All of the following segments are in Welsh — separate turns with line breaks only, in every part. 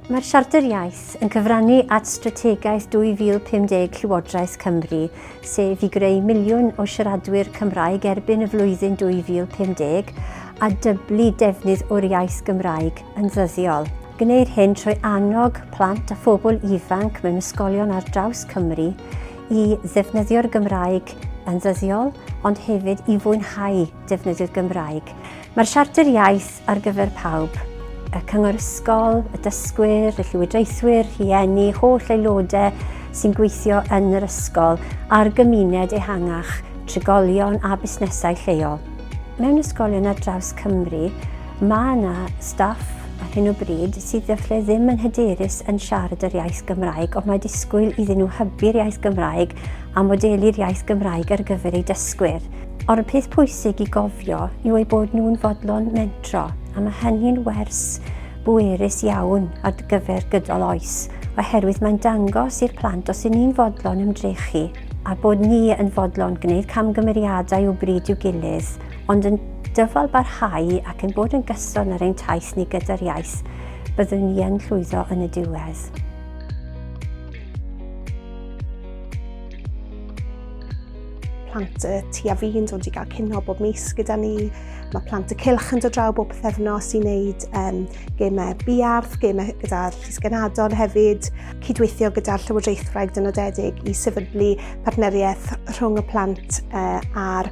Mae'r Siarter Iaith yn cyfrannu at Strategaeth 2050 Llywodraeth Cymru, sef i greu miliwn o siaradwyr Cymraeg erbyn y flwyddyn 2050 a dyblu defnydd o'r iaith Gymraeg yn ddyddiol. Gwneir hyn trwy annog plant a phobl ifanc mewn ysgolion ar draws Cymru i ddefnyddio'r Gymraeg yn ddyddiol, ond hefyd i fwynhau defnyddio'r Gymraeg. Mae'r Siarter Iaith ar gyfer pawb, y Cyngor Ysgol, y dysgwyr, y llywodraethwyr, rhieni, holl aelodau sy'n gweithio yn yr ysgol a'r gymuned ehangach, trigolion a busnesau lleol. Mewn ysgolion ar draws Cymru, Mae yna staff ar hyn o bryd sydd efallai ddim yn hyderus yn siarad yr iaith Gymraeg, ond mae disgwyl iddyn nhw hybu'r iaith Gymraeg a modelu'r iaith Gymraeg ar gyfer eu dysgwyr. Ond y peth pwysig i gofio yw eu bod nhw'n fodlon mentro, a mae hynny'n wers bwerus iawn ar gyfer gydol oes, oherwydd mae'n dangos i'r plant os y'n ni'n fodlon ymdrechu a bod ni yn fodlon gwneud camgymeriadau o bryd i'w gilydd, Ond yn dyfal barhau ac yn bod yn gyson ar ein taith ni gyda'r iaith, byddwn ni yn llwyddo yn y diwedd. plant y tu a fi'n dod i gael cynno bob mis gyda ni. Mae plant y cilch yn dod draw bob pethefnos i wneud um, gemau biarth, gemau gyda'r llysgenadon hefyd, cydweithio gyda'r Llywodraethwraig dynodedig i sefydlu partneriaeth rhwng y plant uh, a'r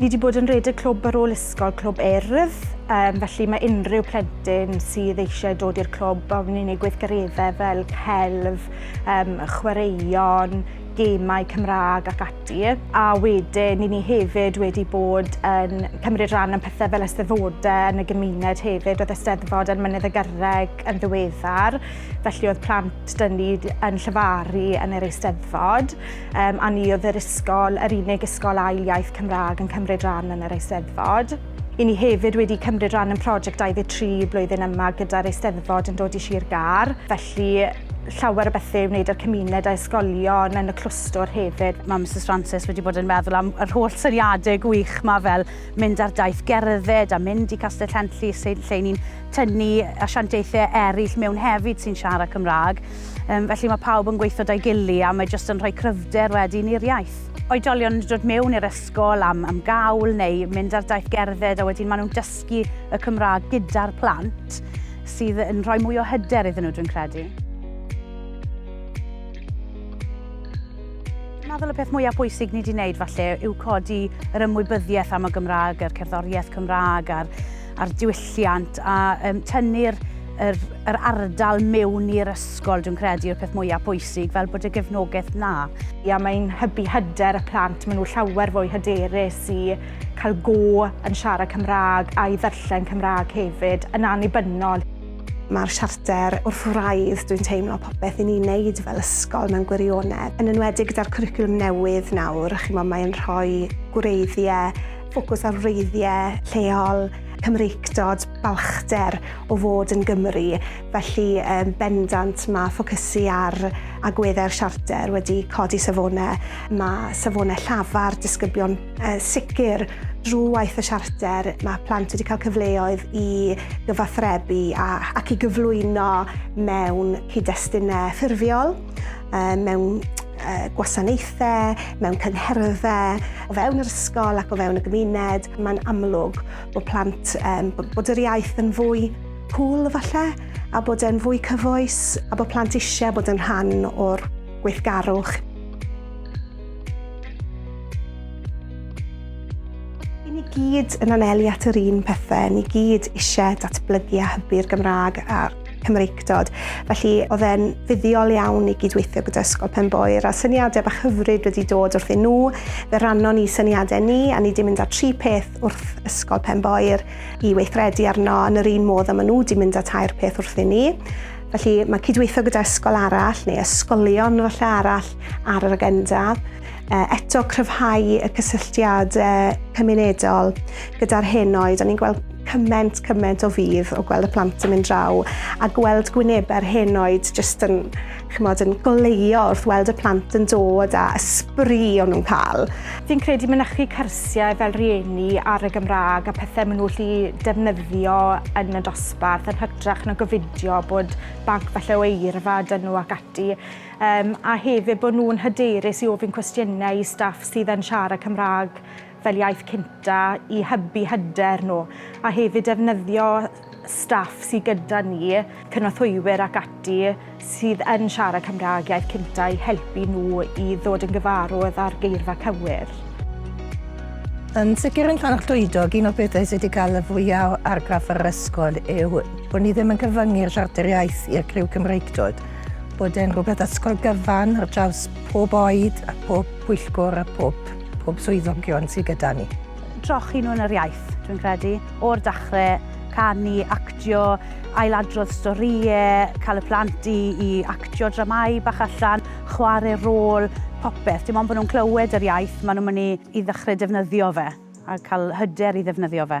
Ni wedi bod yn rhedeg clwb ar ôl ysgol, clwb erf, um, felly mae unrhyw plentyn sydd eisiau dod i'r clwb a ni'n ei gweithgareddau fel celf, um, chwaraeon, gemau Cymraeg ac ati. A wedyn, ni ni hefyd wedi bod yn cymryd rhan yn pethau fel ysteddfodau yn y gymuned hefyd. Oedd ysteddfod yn Mynydd y Gyrreg yn ddiweddar, felly oedd plant dyn ni yn llefaru yn yr eisteddfod. Um, a ni oedd yr ysgol, yr unig ysgol ail iaith Cymraeg yn cymryd rhan yn yr Eisteddfod. I ni hefyd wedi cymryd rhan yn prosiect 23 blwyddyn yma gyda'r Eisteddfod yn dod i Sir Gar, felly llawer o bethau i wneud â'r cymuned a ysgolion yn y clwstwr hefyd. Mae Mrs Francis wedi bod yn meddwl am yr holl syniadau gwych yma fel mynd ar daith gerdded a mynd i Castell Henllys lle ni'n tynnu asiantaethau eraill mewn hefyd sy'n siarad Cymraeg. Um, felly mae pawb yn gweithio da'i gili a mae jyst yn rhoi cryfder wedyn i'r iaith oedolion yn dod mewn i'r ysgol am, am gawl neu mynd ar daith gerdded a wedyn maen nhw'n dysgu y Cymraeg gyda'r plant sydd yn rhoi mwy o hyder iddyn nhw, dwi'n credu. meddwl y peth mwyaf bwysig ni wedi wneud falle yw codi yr ymwybyddiaeth am y Gymraeg, yr cerddoriaeth Cymraeg a'r a'r diwylliant a um, tynnu'r yr, yr ardal mewn i'r ysgol, dwi'n credu, yw'r peth mwyaf pwysig, fel bod y gefnogaeth na. Ia, mae'n hybu hyder y plant, maen nhw llawer fwy hyderus i cael go yn siarad Cymraeg a'i ddarllen Cymraeg hefyd, yn annibynnol. Mae'r siarter wrth wraidd, dwi'n teimlo, popeth i ni'n neud fel ysgol mewn gwirionedd. Yn enwedig gyda'r cwricwlwm newydd nawr, chi'n modd mae'n rhoi gwreiddiau ffocws ar wreiddiau lleol, Cymreictod, balchder o fod yn Gymry, felly um, bendant mae ffocysu ar agweddau'r siarter wedi codi safonau. Mae safonau llafar disgyblion uh, sicr drwy waith y siarter. Mae plant wedi cael cyfleoedd i gyfathrebu a, ac i gyflwyno mewn cyd-destunau ffurfiol. mewn gwasanaethau, mewn cyngherddau, o fewn yr ysgol ac o fewn y gymuned, mae'n amlwg bod plant, um, bod yr iaith yn fwy cool falle, a bod e'n fwy cyfoes, a bod plant eisiau bod yn rhan o'r gweithgarwch. I ni gyd yn anelu at yr un pethau, ni gyd eisiau datblygu a hybu'r Gymraeg a'r Cymreictod. Felly oedd e'n fuddiol iawn i gydweithio gyda Ysgol Penboer a syniadau bach hyfryd wedi dod wrthyn nhw. Fe rannon ni syniadau ni a ni wedi mynd â tri peth wrth Ysgol Penboer i weithredu arno yn yr un modd a maen nhw wedi mynd â tair peth wrthyn ni. Felly mae cydweithio gyda ysgol arall neu ysgolion falle arall ar yr agenda. eto cryfhau y cysylltiad cymunedol gyda'r henoed. O'n ni'n gweld cyment, cyment o fydd o gweld y plant yn mynd draw a gweld gwynebau'r henoed jyst yn, chymod, yn goleio wrth weld y plant yn dod a ysbri o'n nhw'n cael. Fi'n credu mynychu cyrsiau fel rieni ar y Gymraeg a pethau maen nhw'n lli defnyddio yn y dosbarth yn hytrach na gofidio bod banc falle o eirfa dyn nhw ac ati. Yym, a hefyd bod nhw'n hyderus i ofyn cwestiynau i staff sydd yn siarad Cymraeg fel iaith cynta i hybu hyder nhw, a hefyd defnyddio staff sydd gyda ni, cynorthwywyr ac ati, sydd yn siarad Cymraeg iaith cynta i helpu nhw i ddod yn gyfarwydd â'r geirfa cywir. Yn sicr yn Llanfair Llwydog, un o'r pethau sydd wedi cael y fwyaf o argraff ar yr ysgol yw bod ni ddim yn cyfyngu'r siarter iaith i'r criw Cymreictod. bod e'n rhywbeth ysgol gyfan ar draws pob oed a pob pwyllgwr a pob, pob swyddogion sydd gyda ni. Trochi nhw yn yr iaith, dwi'n credu, o'r dachrau, canu, actio, ailadrodd storïau, cael y plant i, i actio dramau bach allan, chwarae rôl, popeth. Dim ond bod nhw'n clywed yr iaith, maen nhw'n mynd i, i ddechrau defnyddio fe a cael hyder i ddefnyddio fe.